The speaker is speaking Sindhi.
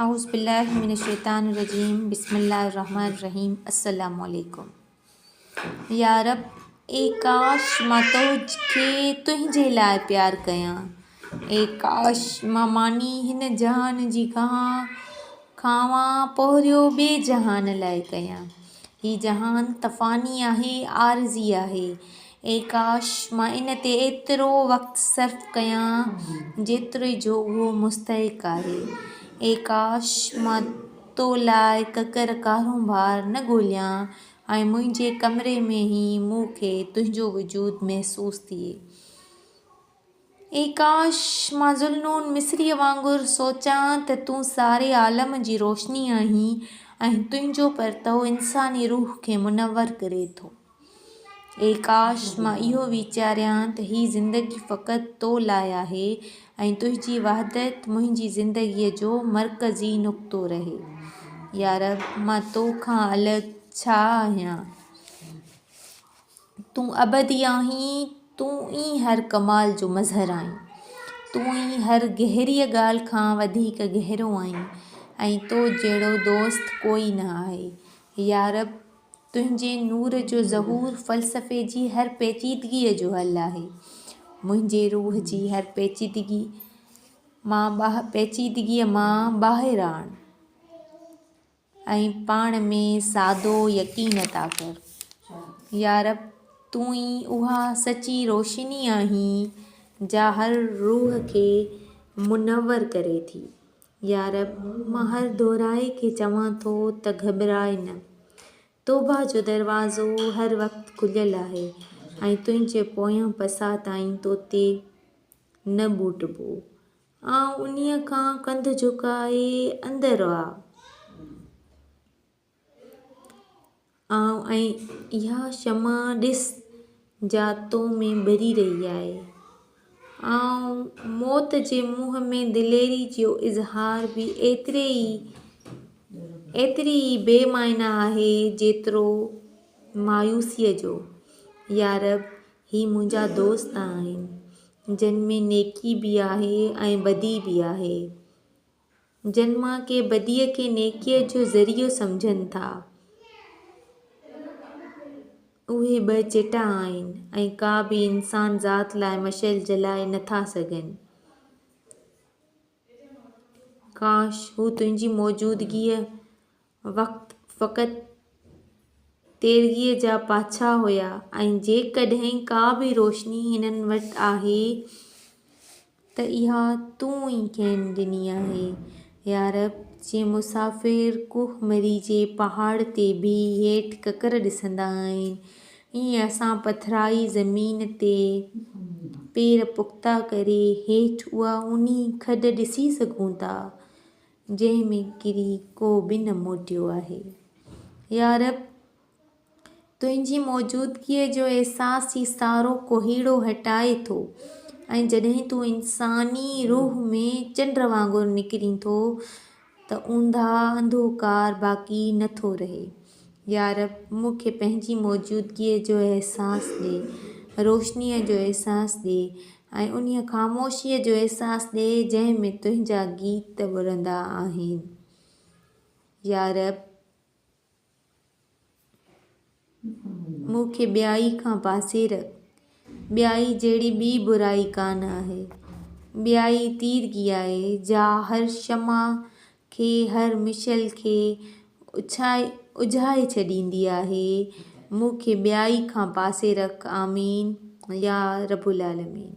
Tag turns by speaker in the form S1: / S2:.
S1: اعوذ بالله من الشيطان الرجيم بسم الله الرحمن الرحيم السلام عليڪم يارب اي ڪاش مان تو کي تنهنجي لاء پيار ڪيان اي ڪاش مان ماني هن جهان جي کان کانوان پهريو ٻي جهان لاء ڪيان هي جهان تفاني آهي عارضي آهي اي ڪاش! مان ان تي ايترو وقت صرف ڪيان جيتري جو اهو مستحق آهي. اي ڪاش! مان تو لاء ڪڪر ڪارونڀار نه ڳوليان ۽ منهنجي ڪمري ۾ ئي مون کي تنهنجو وجود محسوس ٿئي. اي ڪاش! مان ذوالنون مصريء وانگر سوچان ته تون ساري عالم جي روشني آهين ۽ تنهنجو پرتئو انساني روح کي منور ڪري ٿو. اي ڪاش! مان اهو ويچاريان ته هي زندگي فقط تو لاء آهي ۽ تنهنجي وحدت منهنجي زندگيء جو مرڪزي نقطو رهي. يارب! مان تو کان الڳ ڇا آهيان؟ تون ابدي آهين، تون ئي هر ڪمال جو مظهر آهين، تون ئي هر گهريء ڳالهه کان وڌيڪ گهرو آهين ۽ تو جهڙو دوست ڪوئي نه آهي. يارب! تنهنجي نور جو ظهور فلسفي جي هر پيچيدگيء جو حل آهي. منهنجي روح جي هر پيچيدگيء مان ٻاهر آڻ. ۽ پاڻ ۾ سادو يقين عطا ڪر. يارب! تون ئي اها سچي روشني آهين جا هر روح کي منور ڪري ٿي. يارب! مان هر دورائي کي چوان ٿو ته گهٻراء نه. توبه جو دروازو هر وقت کليل آهي ۽ تنهنجي پويان پساهه تائين توتي نه ٻوٽبو. آئون انهيء کان ڪنڌ جهڪائي اندر آ آئون ۽ اها شمع ڏس جا تو ۾ ٻري رهي آهي آئون موت جي منهن ۾ دليري جو اظهار به ايتري ئي ايتري ئي بي معنيٰ آهي جيترو مايوسيء جو يارب هي منهنجا دوست آهن جن ۾ نيڪي به آهي ۽ بدي به آهي جن مان ڪي بديء کي نيڪيء جو ذريعو سمجهن ٿا اهي ٻه چٽا آهن ۽ ڪا به انسان ذات لاء مشعل جلائي نٿا سگهن ڪاش هو تنهنجي موجودگيء وقت فقط تيرگيء جا پاڇا هيا ۽ جيڪڏهن ڪا به روشني هنن وٽ آهي ته اها تون ئي کين ڏني آهي يارب جي مسافر ڪوه مري جي پهاڙ تي بيهي هيٺ ڪڪر ڏسندا آهن ائين اسان پٿرائي زمين تي پير پختا ڪري هيٺ اها اونهي کڏ ڏسي سگهون ٿا، جنهن ۾ ڪري ڪو به نه موٽيو آهي. يا رب! تنهنجي موجودگيء جو احساس هي سارو ڪوهيڙو هٽائي ٿو ۽ جڏهن تون انساني روح ۾ چنڊ وانگر نکرين ٿو ته اونداهه انڌوڪار باقي نه ٿو رهي. يارب! مون کي پنهنجي موجودگيء جو احساس ڏي، روشنيء جو احساس ڏي ۽ انهيء خاموشيء جو احساس ڏي، جنهن ۾ تنهنجا گيت ٻرندا آهن. يارب! مون کي ٻيائي کان پاسي رک. ٻيائي جهڙي ٻي برائي ڪانه آهي. ٻيائي تيرگي آهي، جا هر شمع کي، هر مشعل کي اجهائي ڇڏيندي آهي. مون کي ٻيائي کان پاسي رک. آمين يا رب العالمين.